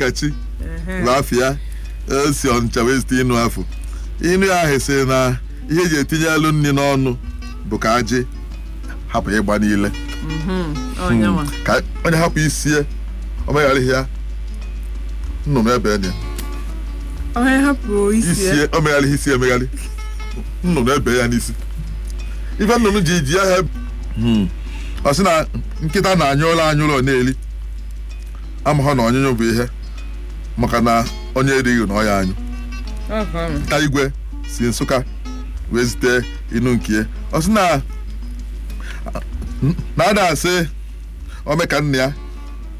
kachi lafia si ọnịcha wee zite inu afụ inu ya ahụ sị na ihe eji etinye alụ nri n'ọnụ bụ ka ajị hapụ ịgba n'ile onyenwa ka onye hapụ isie omegharịghị ya nnụnụ ebe ya onye hapụ isi ya isie omegharịghị isi emegharị nnụnụ ebe ya n'isi ife nnụnụ ji ji ahịa ọ sị na nkịta na-anyụ ụlọ anyụ ụlọ na-eli amaha na ọnyụnyụ bụ ihe maka na onye erighị na ọ ya anyụ nta igwe si nsụka wee zite inu nke ya. ọ sị na na ada asị omeka nna ya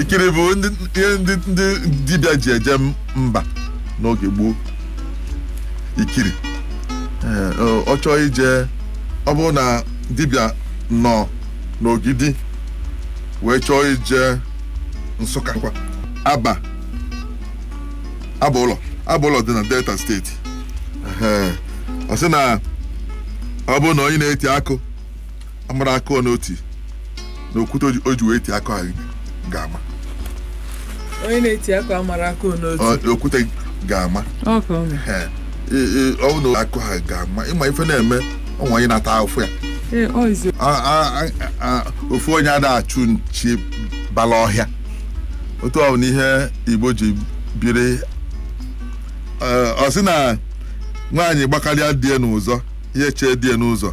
ikiri bụ ndị ihe ndị ndị dibịa ji eje m- mba n'oge gboo ikiri Ee, ọ- ọ chọọ ije ọ bụrụ na dibịa nọ n'ogidi wee chọọ ije nsụka kwa aba aba ụlọ aba ụlọ dị na delta steeti Ee, ọ sị na ọ bụrụ na onye na-eti akụ amarọ akụ ọ na-eti na okwute o ji- o ji wee ti akụ ahụ ga-ama onye na-eti akụ amarọ akụ ọ na-eti Ọ- okwute ga-ama ọka ọ Ee, ee, ọ bụrụ na akụ ahụ ga-ama ịma ife na-eme ụmụ anyị na-ata ahụfụ ya ee ọ izi A- a- a- a- ofu onye ada achụ nchi bala ọhịa otu ọ bụ n'ihe igbo ji biri Ee, ọ sị na nwaanyị gbakarịa die n'ụzọ ihe chee die n'ụzọ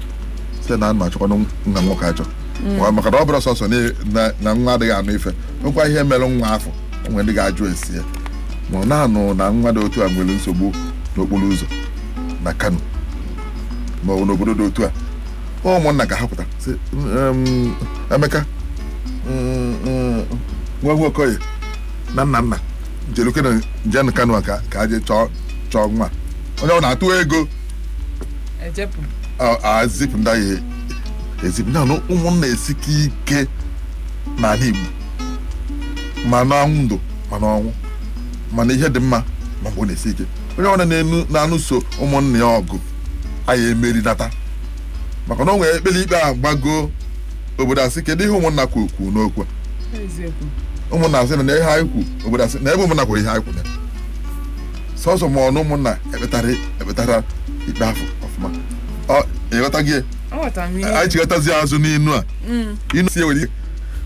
sị na ana achọkwana nwa nwoke achọ Ọ- maka na ọ bụrụ sọsọ na- na- na nwa adịghị anụ ife nwekwa ihe mere nwa afụ o nwe ndị ga-ajụ ese ya ma ọ na-anụ na nwa dị otu a nwere nsogbu n'okporo ụzọ na kano ma ọ bụ n'obodo dị otu a ụmụnna ga-ahapụta sị "Em, emeka mm, mm, nwa nwa okoye na nna nna jerukenụ jenụ kano a ka ka a jee chọọ chọọ nwa onye ọ na-atụ ego ejepụ azipụ ndị ahụ ezipụ ya na ụmụnna esike ike n'ala Igbo ma na ndụ ma n'ọnwụ mana ihe dị mma ma mgbe ọ na-esi ike onye ọbụla na-enu na-anụso ụmụnna ya ọgụ a ya emeri nata maka na o nwere e kpere ikpe a gbago obodo asị kedu ihe ụmụnna kwuru kwuru n'okwu a? eziokwu ụmụnna asị na ihe anyị kwu obodo asị na ebe ụmụnna kwuru ihe anyị kwuru ya sọsọ ma ọnụ ụmụnna ekpetara ekpetara ikpe afụ ọfụma Ọ- ịghọta gị aghọtara m ihe anyị chighatazi azụ n'inu a Mm. inu si ewere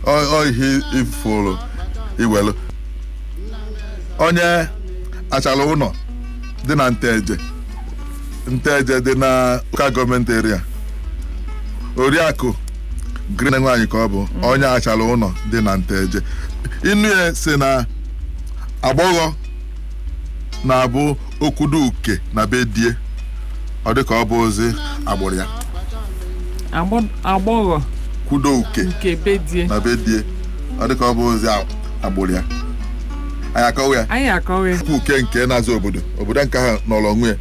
ọ- ọ ihe ifuru iwelu onye Achala Ụnọ dị na Nteje Nteje dị na local government area Oriakụ Green nwaanyị ka ọ bụ onye Achala Ụnọ dị na Nteje inu ya si na agbọghọ na-abụ o kwudo uke na be die ọ dị ka ọ bụ ozi agbụrụ ya Agbọ- agbọghọ kwudo uke nke be die na be die ọ dị ka ọ bụ ozi a- agbụrụ ya anyị akọwa ya anyị akọwa ya. kwa Uke nke na-aza obodo obodo nke ahụ nọrọ onwe ya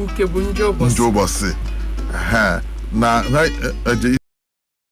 uke bụ njọ ụbọchị ndị ụbọchị ha na ha eji